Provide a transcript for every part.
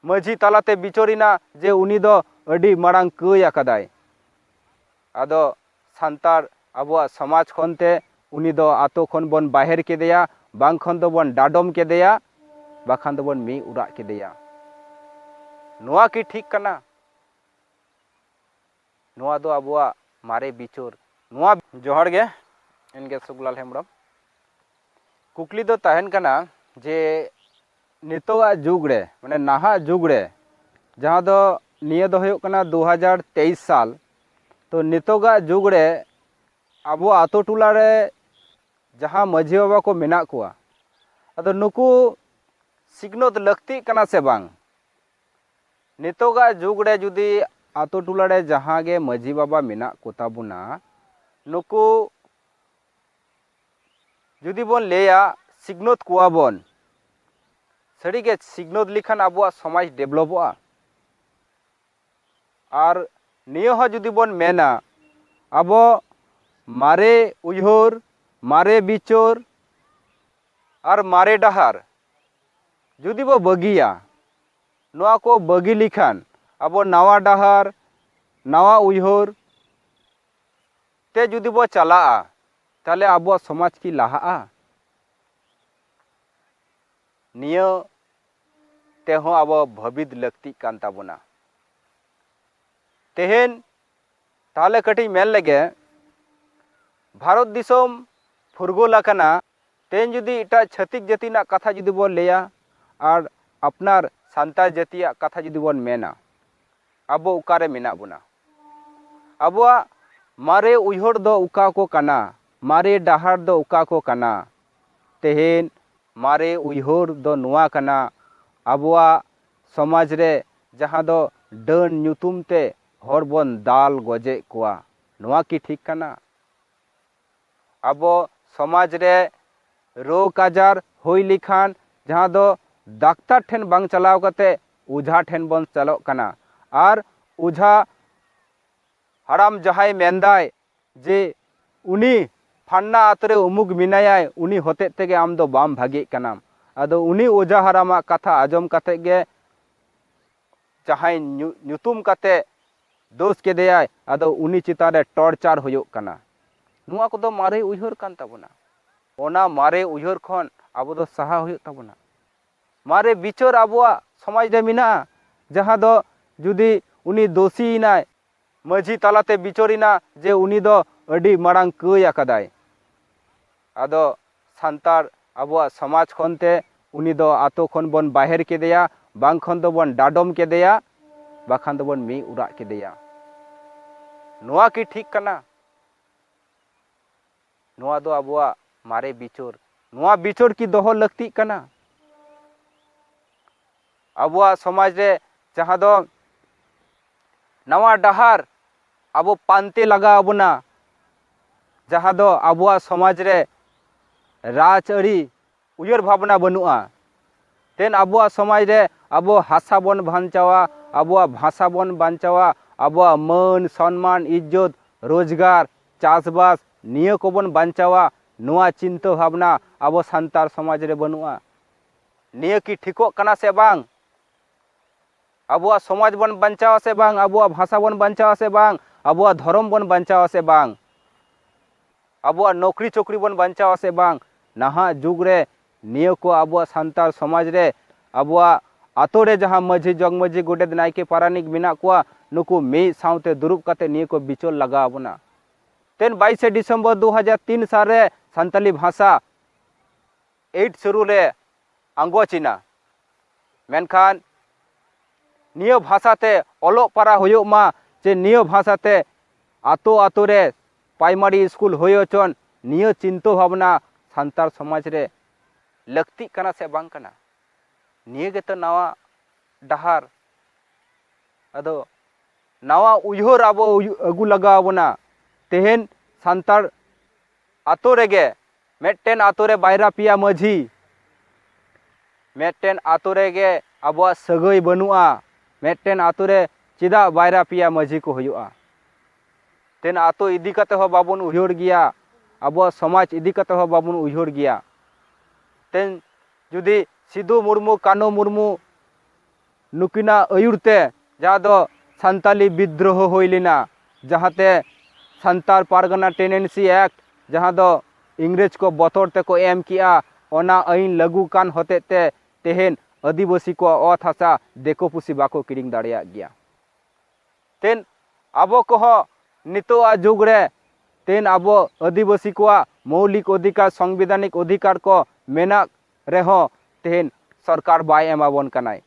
ᱢᱟᱹᱡᱷᱤ ᱛᱟᱞᱟᱛᱮ ᱵᱤᱪᱟᱹᱨᱮᱱᱟ ᱡᱮ ᱩᱱᱤ ᱫᱚ ᱟᱹᱰᱤ ᱢᱟᱲᱟᱝ ᱠᱟᱹᱭ ᱟᱠᱟᱫᱟᱭ ᱟᱫᱚ ᱥᱟᱱᱛᱟᱲ ᱟᱵᱚᱣᱟᱜ ᱥᱚᱢᱟᱡᱽ ᱠᱷᱚᱱ ᱛᱮ ᱩᱱᱤ ᱫᱚ ᱟᱛᱳ ᱠᱷᱚᱱ ᱵᱚᱱ ᱵᱟᱦᱮᱨ ᱠᱮᱫᱮᱭᱟ ᱵᱟᱝ ᱠᱷᱚᱱ ᱫᱚ ᱵᱚᱱ ᱰᱟᱰᱚᱢ ᱠᱮᱫᱮᱭᱟ ᱵᱟᱠᱷᱟᱱ ᱫᱚ ᱵᱚᱱ ᱢᱤᱫ ᱩᱨᱟᱜ ᱠᱮᱫᱮᱭᱟ ᱱᱚᱣᱟ ᱠᱤ ᱴᱷᱤᱠ ᱠᱟᱱᱟ ᱱᱚᱣᱟ ᱫᱚ ᱟᱵᱚᱣᱟᱜ ᱢᱟᱨᱮ ᱵᱤᱪᱟᱹᱨ ᱱᱚᱣᱟ᱾ ᱡᱚᱦᱟᱨ ᱜᱮ ᱤᱧᱜᱮ ᱥᱩᱠᱞᱟᱞ ᱦᱮᱢᱵᱽᱨᱚᱢ ᱠᱩᱠᱞᱤ ᱫᱚ ᱛᱟᱦᱮᱱ ᱠᱟᱱᱟ ᱡᱮ ᱱᱤᱛᱚᱜᱟᱜ ᱡᱩᱜᱽ ᱨᱮ ᱢᱟᱱᱮ ᱱᱟᱦᱟᱜ ᱡᱩᱜᱽ ᱨᱮ ᱡᱟᱦᱟᱸ ᱫᱚ ᱱᱤᱭᱟᱹ ᱫᱚ ᱦᱩᱭᱩᱜ ᱠᱟᱱᱟ ᱫᱩ ᱦᱟᱡᱟᱨ ᱛᱮᱭᱤᱥ ᱥᱟᱞ ᱛᱚ ᱱᱤᱛᱚᱜᱟᱜ ᱡᱩᱜᱽ ᱨᱮ ᱟᱵᱚ ᱟᱛᱳ ᱴᱚᱞᱟ ᱨᱮ ᱡᱟᱦᱟᱸ ᱢᱟᱹᱡᱷᱤ ᱵᱟᱵᱟ ᱠᱚ ᱢᱮᱱᱟᱜ ᱠᱚᱣᱟ ᱟᱫᱚ ᱱᱩᱠᱩ ᱥᱤᱠᱷᱱᱟᱹᱛ ᱞᱟᱹᱠᱛᱤᱜ ᱠᱟᱱᱟ ᱥᱮ ᱵᱟᱝ ᱱᱤᱛᱚᱜᱟᱜ ᱡᱩᱜᱽ ᱲᱮ ᱡᱩᱫᱤ ᱟᱛᱳ ᱴᱚᱞᱟ ᱲᱮ ᱡᱟᱦᱟᱸ ᱜᱮ ᱢᱟᱹᱡᱷᱤ ᱵᱟᱵᱟ ᱢᱮᱱᱟᱜ ᱠᱚᱛᱟ ᱵᱚᱱᱟ ᱱᱩᱠᱩ ᱡᱩᱫᱤ ᱵᱚᱱ ᱞᱟᱹᱭᱟ ᱥᱤᱠᱷᱱᱟᱹᱛ ᱠᱚᱣᱟ ᱵᱚᱱ ᱥᱟᱹᱨᱤ ᱜᱮ ᱥᱤᱠᱷᱱᱟᱹᱛ ᱞᱮᱠᱷᱟᱱ ᱟᱵᱚᱣᱟᱜ ᱥᱚᱢᱟᱡᱽ ᱰᱮᱵᱷᱞᱚᱯᱚᱜᱼᱟ ᱟᱨ ᱱᱤᱭᱟᱹ ᱦᱚᱸ ᱡᱩᱫᱤ ᱵᱚᱱ ᱢᱮᱱᱟ ᱟᱵᱚ ᱢᱟᱨᱮ ᱩᱭᱦᱟᱹᱨ ᱢᱟᱨᱮ ᱵᱤᱪᱟᱹᱨ ᱟᱨ ᱢᱟᱨᱮ ᱰᱟᱦᱟᱨ ᱡᱩᱫᱤ ᱵᱚ ᱵᱟᱹᱜᱤᱭᱟ ᱱᱚᱣᱟ ᱠᱚ ᱵᱟᱹᱜᱤ ᱞᱮᱠᱷᱟᱱ ᱟᱵᱚ ᱱᱟᱣᱟ ᱰᱟᱦᱟᱨ ᱱᱟᱣᱟ ᱩᱭᱦᱟᱹᱨ ᱛᱮ ᱡᱩᱫᱤ ᱵᱚ ᱪᱟᱞᱟᱜᱼᱟ ᱛᱟᱦᱚᱞᱮ ᱟᱵᱚᱣᱟᱜ ᱥᱚᱢᱟᱡᱽ ᱠᱤ ᱞᱟᱦᱟᱜᱼᱟ ᱱᱤᱭᱟᱹ ᱛᱮᱦᱚᱸ ᱟᱵᱚ ᱵᱷᱟᱹᱵᱤᱛ ᱞᱟᱹᱠᱛᱤᱜ ᱠᱟᱱ ᱛᱟᱵᱚᱱᱟ ᱛᱮᱦᱮᱧ ᱛᱟᱦᱚᱞᱮ ᱠᱟᱹᱴᱤᱡ ᱢᱮᱱ ᱞᱮᱜᱮ ᱵᱷᱟᱨᱚᱛ ᱫᱤᱥᱚᱢ ᱯᱷᱩᱨᱜᱟᱹᱞ ᱟᱠᱟᱱᱟ ᱛᱮᱦᱮᱧ ᱡᱩᱫᱤ ᱮᱴᱟᱜ ᱪᱷᱟᱹᱛᱤᱠ ᱡᱟᱹᱛᱤ ᱨᱮᱱᱟᱜ ᱠᱟᱛᱷᱟ ᱡᱩᱫᱤ ᱵᱚᱱ ᱞᱟᱹᱭᱟ ᱟᱨ ᱟᱯᱱᱟᱨ ᱥᱟᱱᱛᱟᱲ ᱡᱟᱹᱛᱤᱭᱟᱜ ᱠᱟᱛᱷᱟ ᱡᱩᱫᱤ ᱵᱚᱱ ᱢᱮᱱᱟ ᱟᱵᱚ ᱚᱠᱟᱨᱮ ᱢᱮᱱᱟᱜ ᱵᱚᱱᱟ ᱟᱵᱚᱣᱟᱜ ᱢᱟᱨᱮ ᱩᱭᱦᱟᱹᱨ ᱫᱚ ᱚᱠᱟ ᱠᱚ ᱠᱟᱱᱟ ᱢᱟᱨᱮ ᱰᱟᱦᱟᱨ ᱫᱚ ᱚᱠᱟ ᱠᱚ ᱠᱟᱱᱟ ᱛᱮᱦᱮᱧ ᱢᱟᱨᱮ ᱩᱭᱦᱟᱹᱨ ᱫᱚ ᱱᱚᱣᱟ ᱠᱟᱱᱟ ᱟᱵᱚᱣᱟᱜ ᱥᱚᱢᱟᱡᱽ ᱨᱮ ᱡᱟᱦᱟᱸ ᱫᱚ ᱰᱟᱹᱱ ᱧᱩᱛᱩᱢ ᱛᱮ ᱦᱚᱲ ᱵᱚᱱ ᱫᱟᱞ ᱜᱚᱡᱮᱫ ᱠᱚᱣᱟ ᱱᱚᱣᱟ ᱠᱤ ᱴᱷᱤᱠ ᱠᱟᱱᱟ ᱟᱵᱚ ᱥᱚᱢᱟᱡᱽ ᱨᱮ ᱨᱳᱜᱽ ᱟᱡᱟᱨ ᱦᱩᱭ ᱞᱮᱠᱷᱟᱱ ᱡᱟᱦᱟᱸ ᱫᱚ ᱰᱟᱠᱛᱟᱨ ᱴᱷᱮᱱ ᱵᱟᱝ ᱪᱟᱞᱟᱣ ᱠᱟᱛᱮ ᱚᱡᱷᱟ ᱴᱷᱮᱱ ᱵᱚᱱ ᱪᱟᱞᱟᱜ ᱠᱟᱱᱟ ᱟᱨ ᱚᱡᱷᱟ ᱦᱟᱲᱟᱢ ᱡᱟᱦᱟᱸᱭ ᱢᱮᱱᱫᱟᱭ ᱡᱮ ᱩᱱᱤ ᱯᱷᱟᱱᱱᱟ ᱟᱛᱳ ᱨᱮ ᱩᱢᱩᱠ ᱢᱮᱱᱟᱭᱟᱭ ᱩᱱᱤ ᱦᱚᱛᱮᱡ ᱛᱮᱜᱮ ᱟᱢ ᱫᱚ ᱵᱟᱢ ᱵᱷᱟᱜᱮᱜ ᱠᱟᱱᱟᱢ ᱟᱫᱚ ᱩᱱᱤ ᱚᱡᱷᱟ ᱦᱟᱲᱟᱢᱟᱜ ᱠᱟᱛᱷᱟ ᱟᱸᱡᱚᱢ ᱠᱟᱛᱮ ᱜᱮ ᱡᱟᱦᱟᱸᱭ ᱧᱩᱛᱩᱢ ᱠᱟᱛᱮ ᱫᱳᱥ ᱠᱮᱫᱮᱭᱟᱭ ᱟᱫᱚ ᱩᱱᱤ ᱪᱮᱛᱟᱱ ᱨᱮ ᱴᱚᱨᱪᱟᱨ ᱦᱩᱭᱩᱜ ᱠᱟᱱᱟ ᱱᱚᱣᱟ ᱠᱚᱫᱚ ᱢᱟᱨᱮ ᱩᱭᱦᱟᱹᱨ ᱠᱟᱱ ᱛᱟᱵᱚᱱᱟ ᱚᱱᱟ ᱢᱟᱨᱮ ᱩᱭᱦᱟᱹᱨ ᱠᱷᱚᱱ ᱟᱵᱚ ᱫᱚ ᱥᱟᱦᱟ ᱦᱩᱭᱩᱜ ᱛᱟᱵᱚᱱᱟ ᱢᱟᱨᱮ ᱵᱤᱪᱟᱹᱨ ᱟᱵᱚᱣᱟᱜ ᱥᱚᱢᱟᱡᱽ ᱨᱮ ᱢᱮᱱᱟᱜᱼᱟ ᱡᱟᱦᱟᱸ ᱫᱚ ᱡᱩᱫᱤ ᱩᱱᱤ ᱫᱳᱥᱤᱭᱮᱱᱟᱭ ᱢᱟᱹᱡᱷᱤ ᱛᱟᱞᱟᱛᱮ ᱵᱤᱪᱟᱹᱨᱮᱱᱟ ᱡᱮ ᱩᱱᱤ ᱫᱚ ᱟᱹᱰᱤ ᱢᱟᱨᱟᱝ ᱠᱟᱹᱭ ᱟᱠᱟᱫᱟᱭ ᱟᱫᱚ ᱥᱟᱱᱛᱟᱲ ᱟᱵᱚᱣᱟᱜ ᱥᱚᱢᱟᱡᱽ ᱠᱷᱚᱱ ᱛᱮ ᱩᱱᱤ ᱫᱚ ᱟᱛᱳ ᱠᱷᱚᱱ ᱵᱚᱱ ᱵᱟᱦᱮᱨ ᱠᱮᱫᱮᱭᱟ ᱵᱟᱝ ᱠᱷᱚᱱ ᱫᱚ ᱵᱚᱱ ᱰᱟᱰᱚᱢ ᱠᱮᱫᱮᱭᱟ ᱵᱟᱠᱷᱟᱱ ᱫᱚ ᱵᱚᱱ ᱢᱤᱫ ᱚᱲᱟᱜ ᱠᱮᱫᱮᱭᱟ ᱱᱚᱣᱟ ᱠᱤ ᱴᱷᱤᱠ ᱠᱟᱱᱟ ᱱᱚᱣᱟ ᱫᱚ ᱟᱵᱚᱣᱟᱜ ᱢᱟᱨᱮ ᱵᱤᱪᱟᱹᱨ ᱱᱚᱣᱟ ᱵᱤᱪᱟᱹᱨ ᱠᱤ ᱫᱚᱦᱚ ᱞᱟᱹᱠᱛᱤᱜ ᱠᱟᱱᱟ ᱟᱵᱚᱣᱟᱜ ᱥᱚᱢᱟᱡᱽ ᱨᱮ ᱡᱟᱦᱟᱸ ᱫᱚ ᱱᱟᱣᱟ ᱰᱟᱦᱟᱨ ᱟᱵᱚ ᱯᱟᱱᱛᱮ ᱞᱟᱜᱟᱣ ᱟᱵᱚᱱᱟ ᱡᱟᱦᱟᱸ ᱫᱚ ᱟᱵᱚᱣᱟᱜ ᱥᱚᱢᱟᱡᱽ ᱨᱮ ᱨᱟᱡᱽ ᱟᱹᱨᱤ ᱩᱭᱦᱟᱹᱨ ᱵᱷᱟᱵᱽᱱᱟ ᱵᱟᱹᱱᱩᱜᱼᱟ ᱛᱮᱱ ᱟᱵᱚᱣᱟᱜ ᱥᱚᱢᱟᱡᱽ ᱨᱮ ᱟᱵᱚ ᱦᱟᱥᱟ ᱵᱚᱱ ᱵᱟᱧᱪᱟᱣᱟ ᱟᱵᱚᱣᱟᱜ ᱵᱷᱟᱥᱟ ᱵᱚᱱ ᱵᱟᱧᱪᱟᱣᱟ ᱟᱵᱚᱣᱟᱜ ᱢᱟᱹᱱ ᱥᱚᱱᱢᱟᱱ ᱤᱡᱽᱡᱚᱛ ᱨᱳᱡᱽᱜᱟᱨ ᱪᱟᱥᱵᱟᱥ ᱱᱤᱭᱟᱹ ᱠᱚᱵᱚᱱ ᱵᱟᱧᱪᱟᱣᱟ ᱱᱚᱣᱟ ᱪᱤᱱᱛᱟᱹ ᱵᱷᱟᱵᱽᱱᱟ ᱟᱵᱚ ᱥᱟᱱᱛᱟᱲ ᱥᱚᱢᱟᱡᱽ ᱨᱮ ᱵᱟᱹᱱᱩᱜᱼᱟ ᱱᱤᱭᱟᱹ ᱠᱤ ᱴᱷᱤᱠᱚᱜ ᱠᱟᱱᱟ ᱥᱮ ᱵᱟᱝ ᱟᱵᱚᱣᱟᱜ ᱥᱚᱢᱟᱡᱽ ᱵᱚᱱ ᱵᱟᱧᱪᱟᱣ ᱟᱥᱮ ᱵᱟᱝ ᱟᱵᱚᱣᱟᱜ ᱵᱷᱟᱥᱟ ᱵᱚᱱ ᱵᱟᱧᱪᱟᱣ ᱟᱥᱮ ᱵᱟᱝ ᱟᱵᱚᱣᱟᱜ ᱫᱷᱚᱨᱚᱢ ᱵᱚᱱ ᱵᱟᱧᱪᱟᱣ ᱟᱥᱮ ᱵᱟᱝ ᱟᱵᱚᱣᱟᱜ ᱱᱚᱠᱨᱤ ᱪᱚᱠᱨᱤ ᱵᱚᱱ ᱵᱟᱧᱪᱟᱣ ᱟᱥᱮ ᱵᱟᱝ ᱱᱟᱦᱟᱜ ᱡᱩᱜᱽ ᱨᱮ ᱱᱤᱭᱟᱹ ᱠᱚ ᱟᱵᱚᱣᱟᱜ ᱥᱟᱱᱛᱟᱲ ᱥᱚᱢᱟᱡᱽ ᱨᱮ ᱟᱵᱚᱣᱟᱜ ᱟᱛᱳ ᱨᱮ ᱡᱟᱦᱟᱸ ᱢᱟᱹᱡᱷᱤ ᱡᱚᱜᱽ ᱢᱟᱹᱡᱷᱤ ᱜᱚᱰᱮᱛ ᱱᱟᱭᱠᱮ ᱯᱟᱨᱟᱱᱤᱠ ᱢᱮᱱᱟᱜ ᱠᱚᱣᱟ ᱱᱩᱠᱩ ᱢᱤᱫ ᱥᱟᱶᱛᱮ ᱫᱩᱲᱩᱵ ᱠᱟᱛᱮ ᱱᱤᱭᱟᱹ ᱠᱚ ᱵᱤᱪᱚᱞ ᱞᱟᱜᱟᱣ ᱟᱵᱚᱱᱟ ᱛᱮᱱ ᱵᱟᱭᱤᱥᱮ ᱰᱤᱥᱮᱢᱵᱚᱨ ᱫᱩ ᱦᱟᱡᱟᱨ ᱛᱤᱱ ᱥᱟᱞᱨᱮ ᱥᱟᱱᱛᱟᱞᱤ ᱵᱷᱟᱥᱟ ᱮᱭᱤᱴ ᱥᱮᱨᱩ ᱞᱮ ᱟᱸᱜᱚᱪ ᱮᱱᱟ ᱢᱮᱱᱠᱷᱟᱱ ᱱᱤᱭᱟᱹ ᱵᱷᱟᱥᱟ ᱛᱮ ᱚᱞᱚᱜ ᱯᱟᱲᱦᱟᱣ ᱦᱩᱭᱩᱜ ᱢᱟ ᱥᱮ ᱱᱤᱭᱟᱹ ᱵᱷᱟᱥᱟ ᱛᱮ ᱟᱛᱳ ᱟᱛᱳ ᱨᱮ ᱯᱨᱟᱭᱢᱟᱨᱤ ᱥᱠᱩᱞ ᱦᱩᱭ ᱦᱚᱪᱚᱱ ᱱᱤᱭᱟᱹ ᱪᱤᱱᱛᱟᱹ ᱵᱷᱟᱵᱽᱱᱟ ᱥᱟᱱᱛᱟᱲ ᱥᱚᱢᱟᱡᱽ ᱨᱮ ᱞᱟᱹᱠᱛᱤᱜ ᱠᱟᱱᱟ ᱥᱮ ᱵᱟᱝ ᱠᱟᱱᱟ ᱱᱤᱭᱟᱹ ᱜᱮᱛᱚ ᱱᱟᱣᱟ ᱰᱟᱦᱟᱨ ᱟᱫᱚ ᱱᱟᱣᱟ ᱩᱭᱦᱟᱹᱨ ᱟᱵᱚ ᱟᱹᱜᱩ ᱞᱟᱜᱟᱣ ᱵᱚᱱᱟ ᱛᱮᱦᱮᱧ ᱥᱟᱱᱛᱟᱲ ᱟᱛᱳ ᱨᱮᱜᱮ ᱢᱤᱫᱴᱮᱱ ᱟᱛᱳ ᱨᱮ ᱵᱟᱭᱨᱟ ᱯᱮᱭᱟ ᱢᱟᱹᱡᱷᱤ ᱢᱤᱫᱴᱮᱱ ᱟᱛᱳ ᱨᱮᱜᱮ ᱟᱵᱚᱣᱟᱜ ᱥᱟᱹᱜᱟᱹᱭ ᱵᱟᱹᱱᱩᱜᱼᱟ ᱢᱤᱫᱴᱮᱱ ᱟᱛᱳ ᱨᱮ ᱪᱮᱫᱟᱜ ᱵᱟᱭᱨᱟ ᱯᱮᱭᱟ ᱢᱟᱹᱡᱷᱤ ᱠᱚ ᱦᱩᱭᱩᱜᱼᱟ ᱛᱮᱱ ᱟᱛᱳ ᱤᱫᱤ ᱠᱟᱛᱮ ᱦᱚᱸ ᱵᱟᱵᱚᱱ ᱩᱭᱦᱟᱹᱨ ᱜᱮᱭᱟ ᱟᱵᱚᱣᱟᱜ ᱥᱚᱢᱟᱡᱽ ᱤᱫᱤ ᱠᱟᱛᱮ ᱦᱚᱸ ᱵᱟᱵᱚᱱ ᱩᱭᱦᱟᱹᱨ ᱜᱮᱭᱟ ᱛᱮᱱ ᱡᱩᱫᱤ ᱥᱤᱫᱩ ᱢᱩᱨᱢᱩ ᱠᱟᱹᱱᱩ ᱢᱩᱨᱢᱩ ᱱᱩᱠᱤᱱᱟᱜ ᱟᱹᱭᱩᱨ ᱛᱮ ᱡᱟᱦᱟᱸ ᱫᱚ ᱥᱟᱱᱛᱟᱞᱤ ᱵᱤᱫᱽᱫᱨᱳᱦᱚ ᱦᱩᱭ ᱞᱮᱱᱟ ᱡᱟᱦᱟᱸ ᱛᱮ ᱥᱟᱱᱛᱟᱲ ᱯᱟᱨᱜᱟᱱᱟ ᱴᱮᱱᱮᱱᱥᱤ ᱮᱠᱴ ᱡᱟᱦᱟᱸ ᱫᱚ ᱤᱝᱨᱮᱡᱽ ᱠᱚ ᱵᱚᱛᱚᱨ ᱛᱮᱠᱚ ᱮᱢ ᱠᱮᱜᱼᱟ ᱚᱱᱟ ᱟᱹᱭᱤᱱ ᱞᱟᱹᱜᱩ ᱠᱟᱱ ᱦᱚᱛᱮᱡ ᱛᱮ ᱛᱮᱦᱮᱧ ᱟᱹᱫᱤᱵᱟᱹᱥᱤ ᱠᱚᱣᱟᱜ ᱚᱛ ᱦᱟᱥᱟ ᱫᱤᱠᱩ ᱯᱩᱥᱤ ᱵᱟᱠᱚ ᱠᱤᱨᱤᱧ ᱫᱟᱲᱮᱭᱟᱜ ᱜᱮᱭᱟ ᱛᱮᱦᱮᱧ ᱟᱵᱚ ᱠᱚᱦᱚᱸ ᱱᱤᱛᱚᱜ ᱟᱜ ᱡᱩᱜᱽ ᱨᱮ ᱛᱮᱦᱮᱧ ᱟᱵᱚ ᱟᱹᱫᱤᱵᱟᱹᱥᱤ ᱠᱚᱣᱟᱜ ᱢᱳᱣᱞᱤᱠ ᱚᱫᱷᱤᱠᱟᱨ ᱥᱚᱝᱵᱤᱫᱷᱟᱱᱤᱠ ᱚᱫᱷᱤᱠᱟᱨ ᱠᱚ ᱢᱮᱱᱟᱜ ᱨᱮᱦᱚᱸ ᱛᱮᱦᱮᱧ ᱥᱚᱨᱠᱟᱨ ᱵᱟᱭ ᱮᱢᱟᱵᱚᱱ ᱠᱟᱱᱟᱭ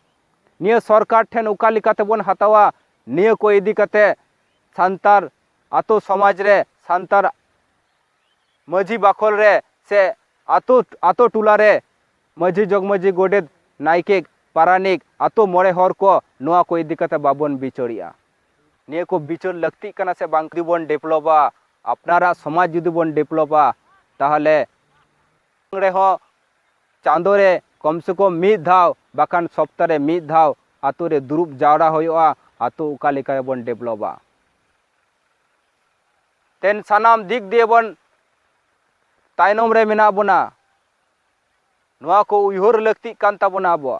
ᱱᱤᱭᱟᱹ ᱥᱚᱨᱠᱟᱨ ᱴᱷᱮᱱ ᱚᱠᱟ ᱞᱮᱠᱟᱛᱮ ᱵᱚᱱ ᱦᱟᱛᱟᱣᱟ ᱱᱤᱭᱟᱹ ᱠᱚ ᱤᱫᱤ ᱠᱟᱛᱮ ᱥᱟᱱᱛᱟᱲ ᱟᱛᱳ ᱥᱚᱢᱟᱡᱽ ᱨᱮ ᱥᱟᱱᱛᱟᱲ ᱢᱟᱹᱡᱷᱤ ᱵᱟᱠᱷᱳᱞ ᱨᱮ ᱥᱮ ᱟᱛᱳ ᱟᱛᱳ ᱴᱚᱞᱟ ᱨᱮ ᱢᱟᱹᱡᱷᱤ ᱡᱚᱜᱽ ᱢᱟᱹᱡᱷᱤ ᱜᱚᱰᱮᱛ ᱱᱟᱭᱠᱮ ᱯᱟᱨᱟᱱᱤᱠ ᱟᱛᱳ ᱢᱚᱬᱮ ᱦᱚᱲ ᱠᱚ ᱱᱚᱣᱟ ᱠᱚ ᱤᱫᱤ ᱠᱟᱛᱮ ᱵᱟᱵᱚᱱ ᱵᱤᱪᱟᱹᱨᱮᱜᱼᱟ ᱱᱤᱭᱟᱹ ᱠᱚ ᱵᱤᱪᱟᱹᱨ ᱞᱟᱹᱠᱛᱤᱜ ᱠᱟᱱᱟ ᱥᱮ ᱵᱟᱝ ᱡᱩᱫᱤ ᱵᱚᱱ ᱰᱮᱵᱷᱞᱚᱯᱟ ᱟᱯᱱᱟᱨᱟᱜ ᱥᱚᱢᱟᱡᱽ ᱡᱩᱫᱤ ᱵᱚᱱ ᱰᱮᱵᱷᱞᱚᱯᱟ ᱛᱟᱦᱚᱞᱮ ᱨᱮᱦᱚᱸ ᱪᱟᱸᱫᱚ ᱨᱮ ᱠᱚᱢ ᱥᱮ ᱠᱚᱢ ᱢᱤᱫ ᱫᱷᱟᱣ ᱵᱟᱠᱷᱟᱱ ᱥᱚᱯᱛᱟ ᱨᱮ ᱢᱤᱫ ᱫᱷᱟᱣ ᱟᱛᱳ ᱨᱮ ᱫᱩᱲᱩᱵ ᱡᱟᱣᱨᱟ ᱦᱩᱭᱩᱜᱼᱟ ᱟᱛᱳ ᱚᱠᱟ ᱞᱮᱠᱟ ᱵᱚᱱ ᱰᱮᱵᱷᱞᱚᱯᱟ ᱛᱮᱱ ᱥᱟᱱᱟᱢ ᱫᱤᱠ ᱫᱤᱭᱮ ᱵᱚᱱ ᱛᱟᱭᱱᱚᱢ ᱨᱮ ᱢᱮᱱᱟᱜ ᱵᱚᱱᱟ ᱱᱚᱣᱟ ᱠᱚ ᱩᱭᱦᱟᱹᱨ ᱞᱟᱹᱠᱛᱤᱜ ᱠᱟᱱ ᱛᱟᱵᱚᱱᱟ ᱟᱵᱚᱣᱟᱜ